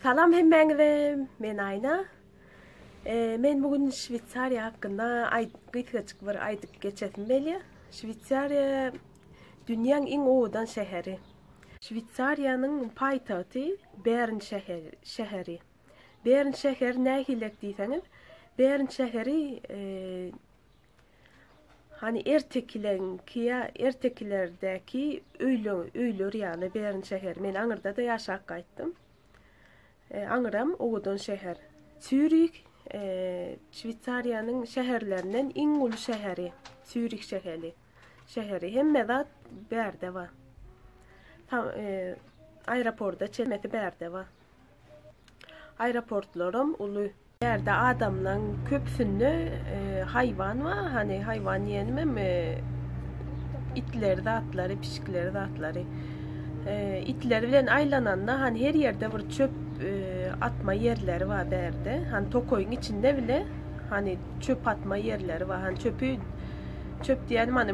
Salam hemmäňize, men Aýna. Men bu gün Şweýsariýa hakynda gysgajyk bir aýdyp geçesim gelýär. Şweýsariýa dünýäň iň owadan şäheri. Şweýsariýanyň paýtagty Bern şäheri. Bern şäheri nähilek diýseňiz, Bern şäheri Hany ertekileňki ýa ertekilerdäki öýler, öýler ýaly Bern şäheri. Men aňyrda-da ýaşap gaýtdym. E, aňyram owadan şäher. Sýurik e, Şweýsariýanyň şäherlerinden iň uly şäheri. Sýurik şäheri. Şäheri hemme zat bärde bar. Tam e, aeroportda çemesi bärde bar. Aeroportlaram uly. Bu ýerde adamlaň köpüsinde haýwan bar, hany haýwan diýenimem itleri zatlary, pişikleri zatlary. Itleri bilen aýlananda hany her ýerde bir çöp atma ýerleri bar bärde. Hany tokaýyň içinde bile hany çöp atma ýerleri bar. Hany çöpi çöp diýenim hany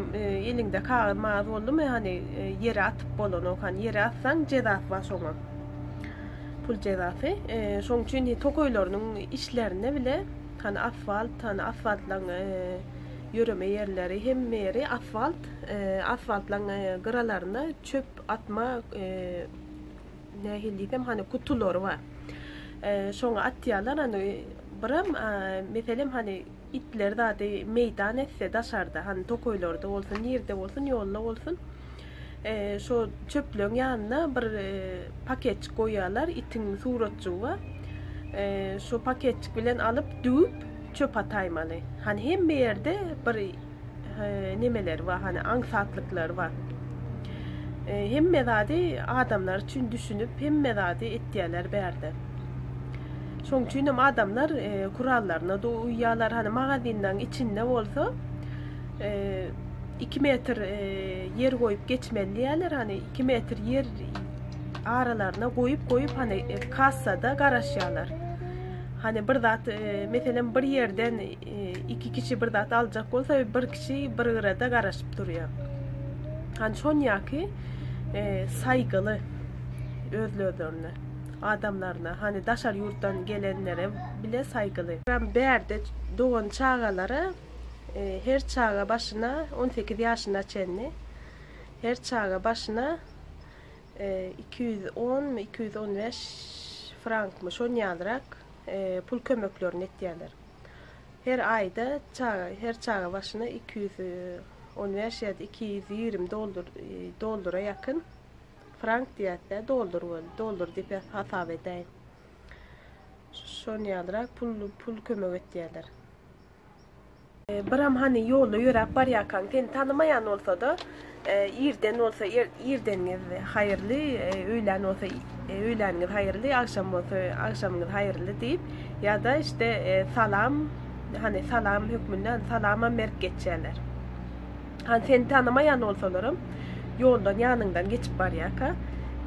eliňde kagyz-magyz boldumy hany ýere atyp bolanok. Hany ýere atsaň jezasy bar şoňa. Pul jezasy. Şoň üçin he tokaýlarynyň içlerine bile hani asfalt, hani asfaltlaň ýöreme ýerleri, hemme ýeri asfalt, asfaltlaň gyralaryna çöp atma nähili diýsem hani gutulary bar. Şoňa atýarlar, hani biram meselem hani Itler zady meýdan etse, daşarda, hany tokaýlarda bolsun, nirde bolsun, ýolda bolsun, şo çöplügiň ýanyna bir paketjik goýýarlar, itiň suratjygy bar. Şo paketjik bilen alyp, düwüp, çöp ataýmaly. Hany hemme ýerde bir nemeleri bar, hani aňsatlyklary bar. E, hemme zady adamlar üçin düşünip, hemme zady etýärler bärde. Şoň üçin hem adamlar e, kurallaryna da uýýarlar. Hani magazinleň içinde bolsa e, 2 metr e, ýer goýup geçmeli diýýärler. Hani 2 metr ýer aralaryna goýup goýup hani e, kassada garaşýarlar. Hani bir zat e, meselem bir ýerden Iki kişi bir zat aljak bolsa, bir kişi bir gyrada garaşyp durýar. Hani şon ýaki e, saýgyly özlerine, adamlaryna, hani daşar ýurtdan gelenlere bile saýgyly. Ram bärde dogan çagalara e, her çaga başyna 18 ýaşyna çenli her çaga başyna e, 210 mi 215 frank mi şon ýalyrak e, pul kömeklerini etýärler. Her aýda çaga, her çaga başyna iki ýüz on bäş ýa-da iki ýüz ýigrimi doldur, doldura ýakyn frank diýýäs-dä, doldur bol, doldur diýip hasap edäýin. Şony ýalyrak pul, pul kömek etýärler. Biram hany ýolda ýöräp barýarkaň, seni tanamaýan bolsa-da, Irden bolsa irdeniňiz haýyrly, öýlän bolsa öýläniňiz haýyrly, agşam bolsa agşamyňyz haýyrly diýip, ýa-da işte salam, hany salam hökmünde salamam berip geçýärler. Hany seni tanamaýan bolsalaram, ýoldan ýanyňdan geçip barýarka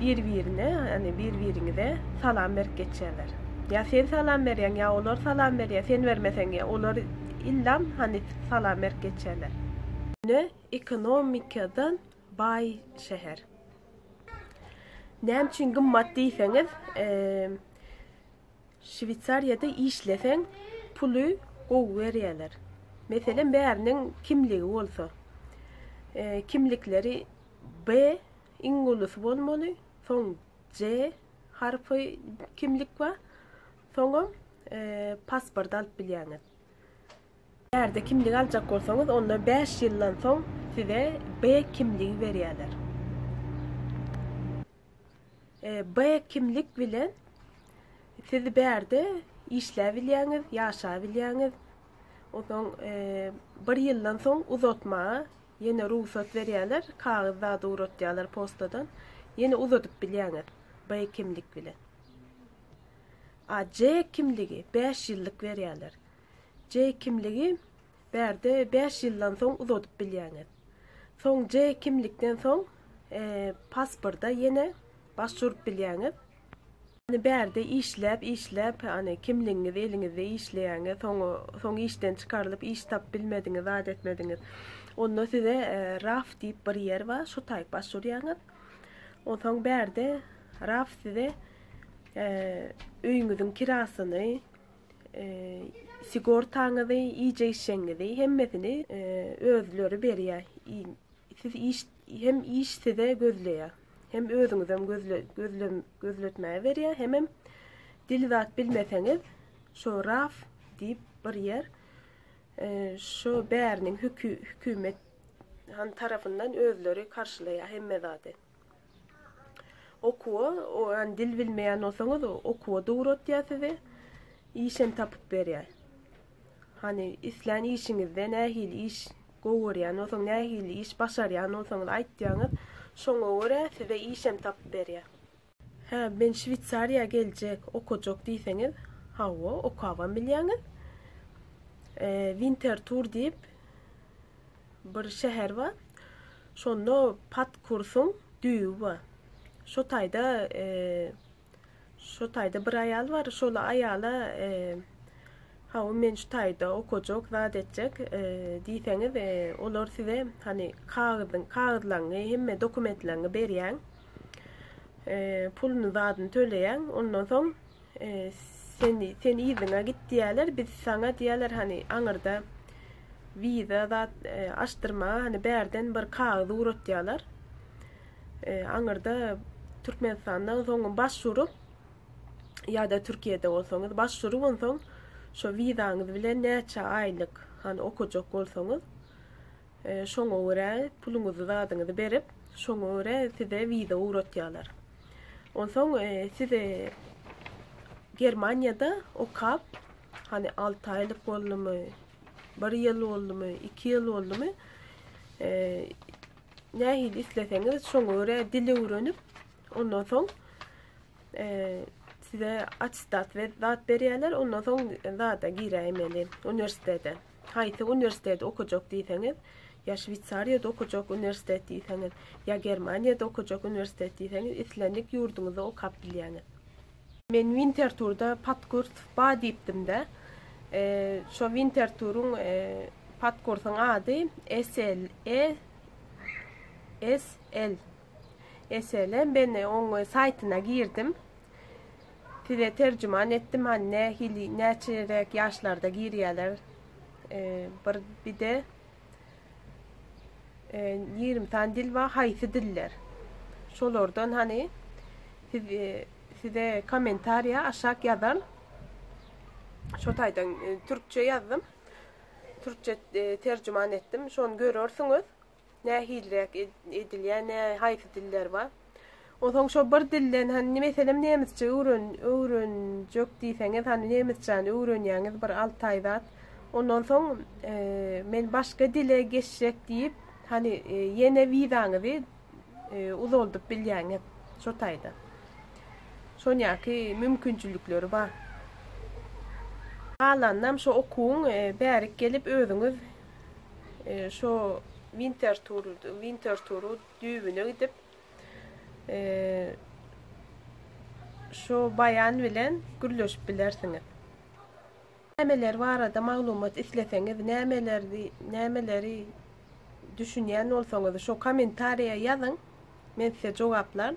bir-birine, hany bir-biriňize salam berip geçýärler. Ýa sen salam berýäň, ýa olar salam berýär, sen bermeseň ýa olar illam hany salam berip geçýärler. Ine, Ekonomikadan baý şäher. Näme üçin gymmat diýseňiz, Şweýsariýada işleseň, puly gowy berýärler. Meselem, bäriniň kimligi bolsa, kimlikleri B iň ulusy bolmaly, soň C harpy kimlik bar, soňam pasport alyp bilýäňiz. Ýerde kimlik aljak bolsaňyz, onda bäş ýyldan soň size B kimligi berýärler. B kimlik bilen siz bärde işläp bilýäňiz, ýaşap bilýäňiz. Onsoň bir ýyldan soň uzatmaga ýene rugsat berýärler, kagyz zady ugratýarlar postadan. Ýene uzadyp bilýäňiz B kimlik bilen. A C kimligi 5 ýyllyk berýärler. C kimligi bärde 5 ýyldan soň uzadyp bilýäňiz. Soň C kimlikden soň e, pasporta ýene başvurup bilýäňiz. Yani bärde işläp, işläp, yani kimligiňiz eliňizde işleýäňiz, soň soň işden çykarylyp, iş tap bilmediňiz, zat etmediňiz. Onda size e, RAF diýip bir ýer bar, şu taýyk başwurýaňyz. Onsoň bärde RAF size öýüňiziň kirasyny, sigortaňyzy, iýjek-içjegiňizi hemmesini özleri berýär. Siz iş hem iş size gözleýär. Hem özüňizem gözle gözle gözletmäge berýär, hemem dil zat bilmeseňiz, şo raf diýip bir ýer şo bäriniň hükümet han tarapyndan özleri karşylaýar hemme zady. Okuwa oňan dil bilmeýän bolsaňyz okuwa dugratýar sizi. Işem tapyp berýär. Hani islän işiňizde nähili iş gowy görýän bolsaň, nähili iş başarýan bolsaňyz aýtýaňyz, şoňa görä size işem tapyp berýär. Hä, men Şweýsariýa geljek, okajak diýseňiz, hawa, okabam bilýäňiz. Wintertur diýip, Bir şäher bar. Şonda pat kursuň düýbi bar. Şo taýda şo taýda bir aýal bar. Şol aýala Hawa men şu taýda okajak, zat etjek diýseňiz, olar size hani kagyzyň, kagyzlaryňy, hemme dokumentlerini berýäň. Puluny, zadyny töleýäň. Ondan soň Sen sen yzyňa git diýerler, biz saňa diýerler hani aňyrda wiza zat e, açdyrma hani bärden bir kagyz ugratýarlar. E, aňyrda Türkmenistandan soňun baş urup ýa-da Türkiýede bolsaňyz baş urup onsoň şo wizaňyz bilen näçe aýlyk hani okajak bolsaňyz e, şoňa görä puluňyzy zadyňyzy berip şoňa görä size wiza ugratýarlar. Onsoň siz Germaniýada okap, hani 6 aýlyk boldumy, 1 ýyl boldumy, 2 ýyl boldumy, nähili isleseňiz şoňa görä dil öwrenip, ondan soň size attestat we zat berýärler, ondan soň zada giräýmeli uniwersitete. Haýsy uniwersiteti okajak diýseňiz, ýa Şweýsariýada okajak uniwersitet diýseňiz, ýa Germaniýada okajak uniwersitet diýseňiz, islendik ýurduňyzda okap bilýäňiz. Men Winterthurda podkurs bar diýipdim-de, şo Winterthuryň podkursyň ady ESL, ESL, ESL, men oň saýtyna girdim, Size terjiman etdim han ne hili näçerek yaşlarda girýäler e, bir bide e, 20 san dil var haýsy diller şolardan hani siz e, size kommentariýa aşak ýazan şo taýdan e, türkçe ýazdym türkçe e, terjiman etdim şony görersiňiz Nähiliräk edilýär, nä, haýsy diller bar? Onsoň şo bir dilden, hany meselem nemisçe öwren, öwrenjek diýseňiz, hany nemisçäni öwrenýäňiz bir alty aý zat. Ondan soň e, men başga dile geçjek diýip, hany e, ýene wizaňyzy e, uzaldyp bilýäňiz şo taýda. Şonýaki mümkinçilikleri bar. Galanynam şo okuwyň e, bärik gelip özüňiz Şo Wintertur, Winterturu düýbüne gidip, şo baýan bilen gürleşip bilersiňiz. Nämeler barada maglumat isleseňiz, nämelerdi, nämeleri düşünýän bolsaňyz, şo kommentariýa ýazyň, men size jogaplaryn.